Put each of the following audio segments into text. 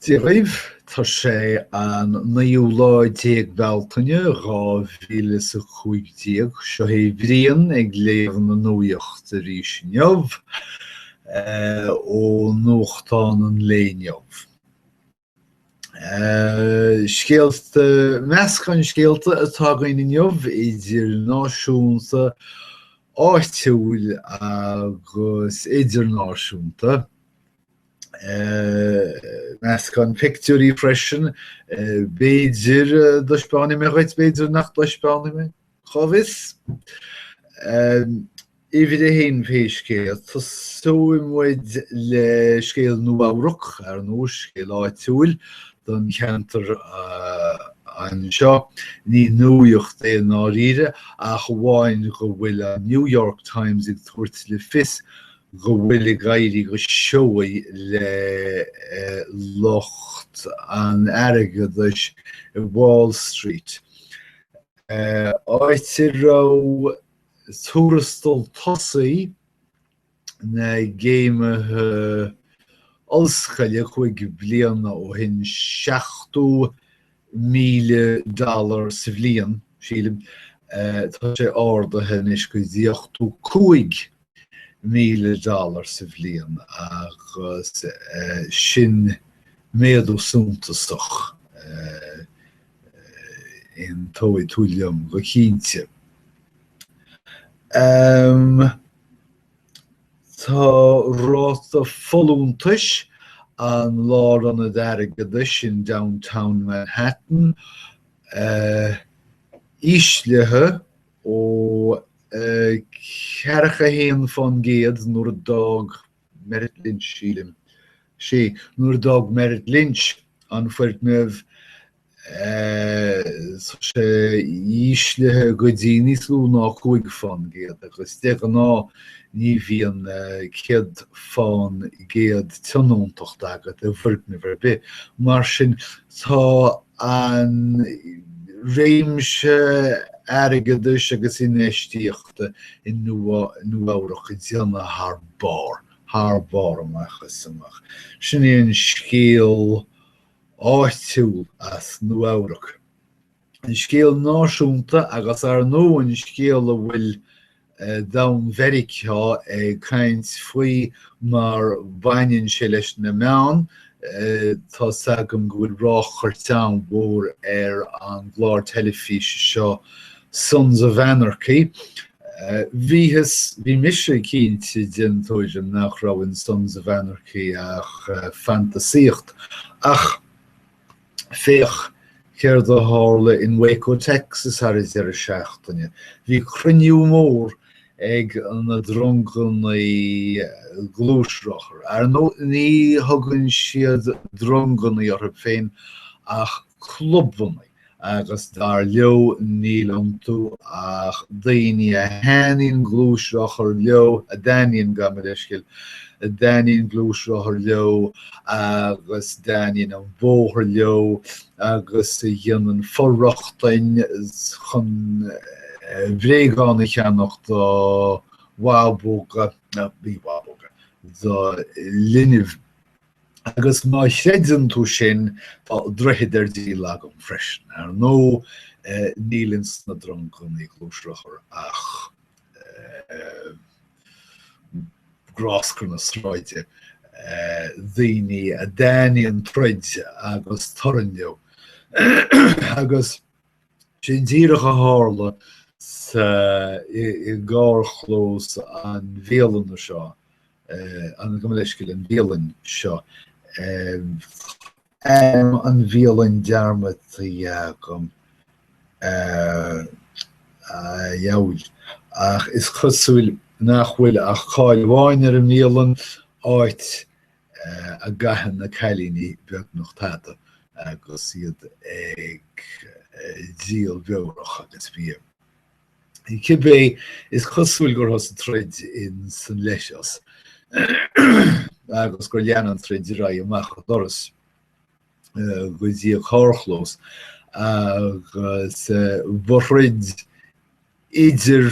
Dia dhaoibh, tá sé an naoú lá déag Bealtaine, dhá mhíle is a cúig déag. Seo é Brian ag léamh na nuaíocht arís inniu, ó nuachtán an lae inniu. Scéalta, Meascán scéalta atá againn inniu, idir náisiúnta, áitiúil agus idirnáisiúnta. Meascán pictiúirí freisin, b'fhéidir go dtaispeánfaidh mé dhuit, b'fhéidir nach dtaispeánfaidh mé. Cá bhfios? Uimhir a haon pé scéal é, tosóidh muid le scéal Nua-Eabhrac, ar ndóigh, scéal áitiúil don cheantar anseo. Ní nuaíocht é i ndáiríre ach amháin go bhfuil an New York Times ag tabhairt le fios go bhfuil ag éirí go seoigh le lucht an airgeadais i Wall Street. áit a raibh tuarastal tosaigh na gcéimithe ollscoile cúig bliana ó shin seachtó míle dollar sa bhliain, sílim, tá sé ardaithe anois go dtí ochtó cúig míle dollar sa bhliain agus sin méadú suntasach aontóidh tú liom go cinnte. Tá ráta folúntais an Lárionaid Airgeadais in Downtown Manhattan íslithe. ó cheathracha a haon fán gcéad nuair a d'fhág Merrill Lynch, sílim, sea, nuair a d'fhág Merrill Lynch an foirgneamh tá sé íslithe go dtí níos lú ná cúig fán gcéad agus de ghnáth ní bhíonn céad fán gcéad tionóntacht agat i bhfoirgneamh ar bith. Mar sin tá. an réimse airgeadais agus infheistíochta i Nua-Eabhrac ag déanamh thar barr, thar barr amach is amach. Sin é an scéal áitiúil as Nua-Eabhrac. An scéal náisiúnta agus ar ndóigh an scéal a bhfuil domhan Mheiriceá ag caint faoi mar baineann sé leis na meáin. Tá 's agam go bhfuil ráchairt an-mhór ar an gclár teilifíse seo Sons of Anarchy. Bhíos, bhí mise cinnte den tuairim nach raibh in Sons of Anarchy ach fantasaíocht ach. Féach céard a tharla in Waco Texas ar an deireadh seachtaine. Bhí cruinniú mór ag na drongannaí gluaisrothar. Ar ndóigh ní thugann siad drongannaí orthu féin ach clubannaí. agus dar leo níl iontu ach daoine a thaitníonn gluaisrothar leo, a dtaitníonn, gabh mo leithscéal, a dtaitníonn gluaisrothar leo agus a dtaitníonn an bóthar leo agus a dhéanann for-rochtain chun bréagáin a cheannacht do bhabóga, ní bhabóga, do linbh. Agus má chreideann tú sin, tá droichead ar díol agam freisin. Ar ndóigh, níl ins na drongannaí gluaisrothar ach gráscar na sráide, daoine a dtaitníonn troid agus torann leo, agus Sin díreach a tharla sa, i gcarrchlós an bhialainn seo, an, gabh mo leithscéal, an bhialann seo. Ainm an bhialainn dearmadta agam, a dheabhail, ach is cosúil nach bhfuil ach cáil amháin ar an mbialann, áit a gcaitheann na cailíní beagnach tada agus iad ag díol beorach agus bia. Cibé, is cosúil gur thosaigh troid in san leithreas agus gur lean an troid ar aghaidh amach an doras go dtí an carrchlós agus ba throid idir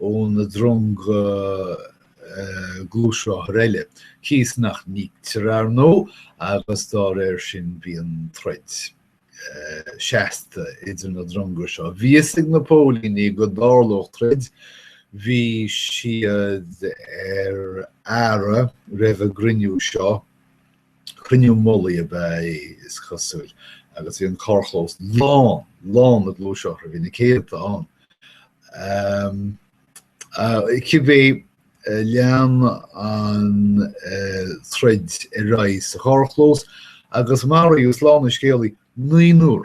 ó na dronga gluaisrothar eile, cíos nach n-íoctar, ar ndóigh, agus dá réir sin bíonn troid seasta idir na dronga seo. Bhí fhios ag na póilíní go dtarlódh troid, bhí siad ar aire roimh an gcruinniú seo, Cruinniú mullaigh ab ea, is cosúil, agus bhí an carrchlós lán, lán le gluaisrothair, bhí na céadta ann. Cibé, lean an troid ar aghaidh sa charrchlós, agus maraíodh, slán an scéalaí, naonúr.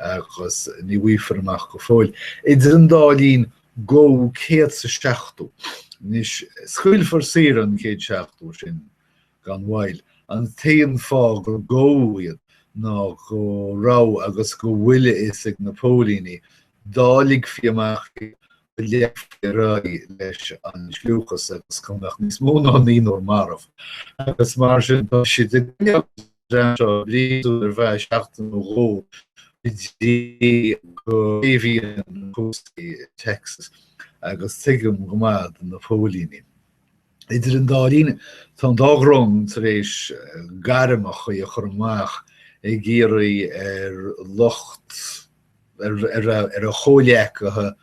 agus ní bhfaighfear amach go fóill. Idir an dá linn, gabhadh 170. Anois, scaoilfear saor an 170 sin gan mhoill. An t-aon fáth gur gabhadh iad ná go raibh agus go bhfuil a fhios ag na póilíní, dá ligfí amach iad, go leanfaí ar aghaidh leis an sliúchas agus go mbeadh níos mó ná naonúr marbh. Agus mar sin, tá siad ag coinneáil an. dream seo bliain ar feadh seachtain nó dhó go dtí go séimhíonn cúrsaí i Texas agus tuigim go maith do na póilíní. Idir an dá linn, tá an dá dhrong tar éis gairm chatha a chur amach ag iarraidh ar lucht ar a chomhleacaithe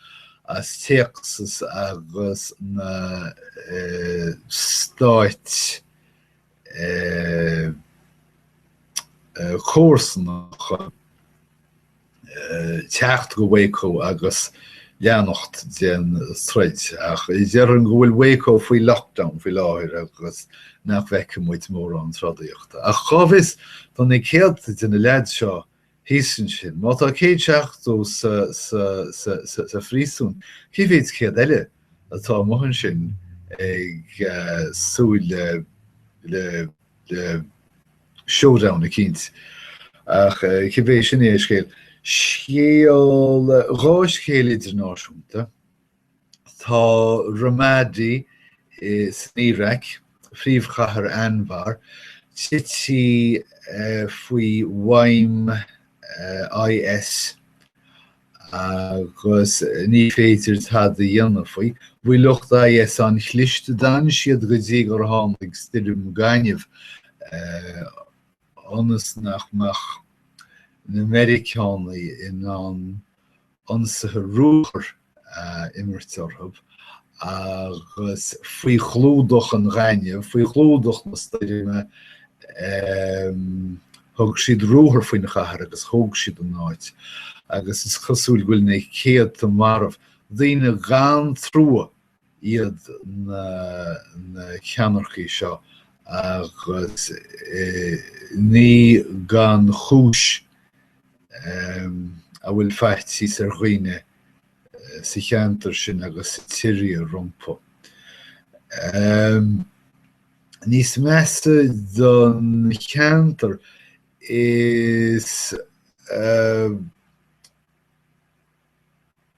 as Texas agus na Stáit comharsanacha teacht go Waco agus leanacht den troid ach déarfainn go bhfuil Waco faoi lockdown faoi láthair agus nach bhfeicfidh muid mórán trodaíochta. Ach cá bhfios, tá na céadta de na leaids seo thíos ansin. Má tá céad seachtó sa phríosún, cé mhéid céad eile atá amuigh ansin ag súil le showdown eicínt? Ach cibé, sin é an scéal. Scéal, dhá scéal idirnáisiúnta, Tá Ramadi insan Iaráic, phríomhchathair Anbar, tití faoi mhaidhm IS agus ní féidir tada a dhéanamh faoi. Bhí lucht IS an-chliste, d'fhan siad go dtí gur tháinig stoirm gainimh ionas nach mbeadh na Meiriceánaigh in ann ionsaithe ruathar a imirt orthu agus faoi chlúdach an ghainimh, faoi chlúdach na stoirme, thug siad ruathar faoin chathair agus thóg siad an áit agus is cosúil go bhfuil na céadta marbh, daoine gan trua iad na ceannaircí seo agus ní gan chúis a bhfuil faitíos ar dhaoine sa cheantar sin agus sa tSiria rompu. Níos measa don cheantar is.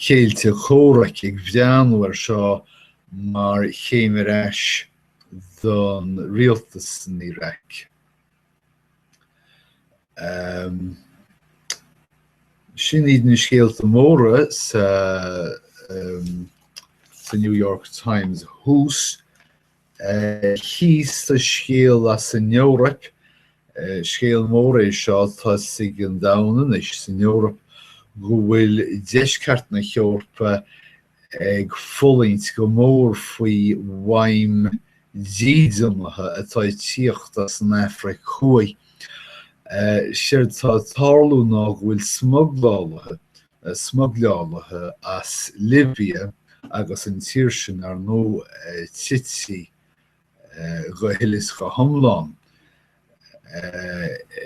chéilí comhraic ag bhreathnú ar seo mar chéim ar ais don rialtas san Iraq. Sin iad na scéalta móra sa New York Times thuas. Thíos sa scéal as an Eoraip, scéal mór é seo, tá a fhios ag an domhan anois, san Eoraip, go bhfuil deisceart na hEorpa ag fulaingt go mór faoi mhaidhm dídeanaithe atá ag tíocht as an Afraic Thuaidh. Séard tá ag tarlú ná go bhfuil smuglálaithe na smugleálaithe as Libia agus an tír sin ar ndú tite go huile is go hiomlán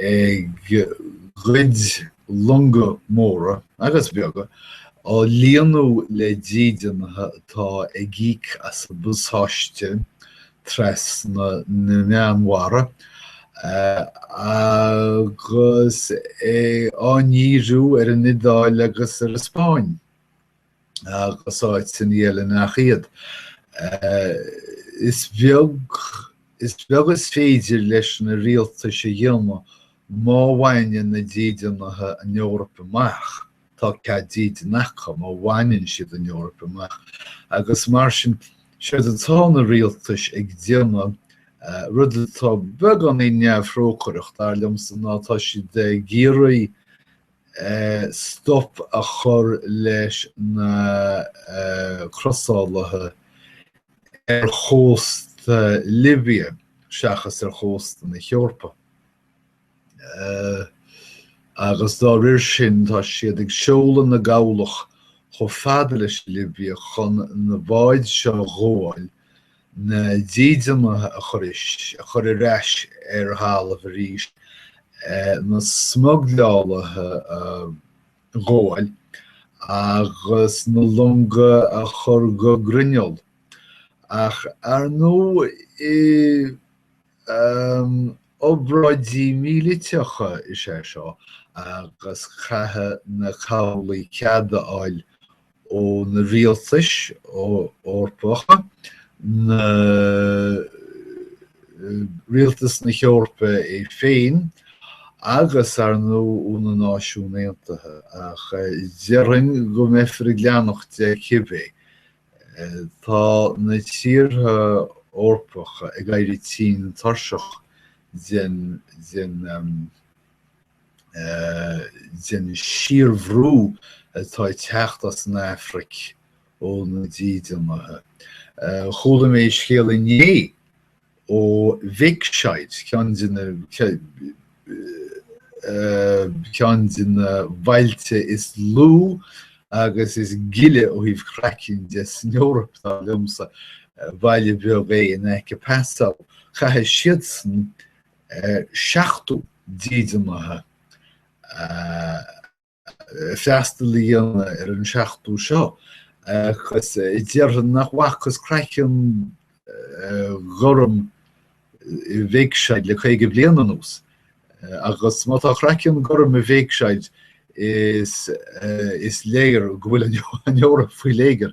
ag goid longa móra agus bheaga, á líonadh le dídeanaithe atá ag íoc as a bpasáiste trasna na Meánmhara agus á ndíriú ar an Iodáil agus ar an Spáinn agus áiteanna eile nach iad. Is beag is beag is féidir leis na rialtais a dhéanamh má bhaineann na dídeanaithe an Eoraip amach. Tá cead dídin acu má bhaineann siad an Eoraip amach agus mar sin séard atá na rialtais ag déanamh. Rud atá beagáinín neamhthrócaireach, dar liomsa, ná tá siad ag iarraidh stop a chur leis na crosálaithe ar chósta Libia seachas ar chósta na hEorpa. agus dá réir sin tá siad ag seoladh na gcabhlach chomh fada leis an Libia chun na báid seo a ghabháil, na dídeanaithe a chur a chur ar ais ar thalamh arís, na smugleálaithe a ghabháil agus na longa a chur go grinneall. Ach ar ndóigh i. obráidí míleata is ea seo agus caithfidh na cabhlaigh cead a fháil ó na rialtais Eorpacha, nó rialtas na hEorpa é féin agus, ar ndú, ó na Náisiúin Aontaithe. Ach déarfainn go mbeifear ag leanacht de cibé Tá na tíortha Eorpacha ag éirí tinn tuirseach den síorbhrú atá ag teacht as an Afraic ó na dídeanaithe. Chuala mé scéal inné Ó Wegscheid ceann de na ceann de na bailte is lú agus is gile ó thaobh craicinn de san Eoraip dar liomsa, baile beag é in aice Passau, chaithfeadh siadsan seachtó dídeanaithe a freastal a dhéanamh ar an seachtó seo agus déarfainn nach bhfacthas craiceann gorm i Wegscheid le caoga bliain anuas agus má tá craiceann gorm i Wegscheid is léir go bhfuil an Eoraip faoi léigear.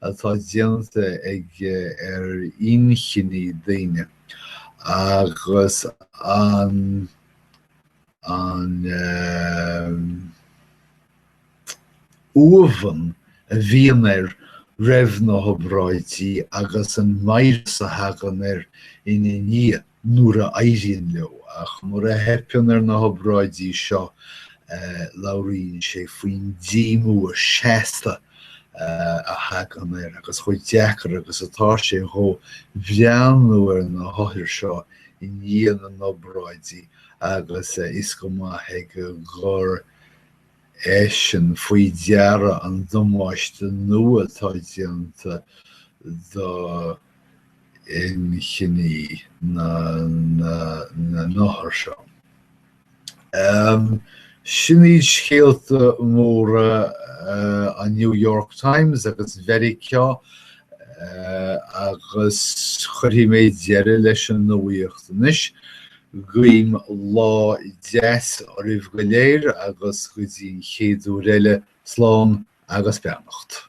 atá déanta aige ar inchinní daoine agus an uamhan a bhíonn air roimh na hobráidí agus an mheidhréis a thagann air ina ndiaidh. nuair a éiríonn leo, ach nuair a theipeann ar na hobráidí seo labhraíonn sé faoin díomua seasta a thagann air agus chomh deacair agus atá sé dhó breathnú ar na hothair seo i ndiaidh na n-obráidí agus a fhios go maith aige gur eisean faoi deara an damáiste nua atá déanta do inchinní na n-othar seo. Sin iad scéalta móra an New York Times agus Mheiriceá agus cuirfidh mé deireadh leis an nuaíocht anois. Guím lá deas oraibh go léir agus go dtí an chéad uair eile, slán agus beannacht.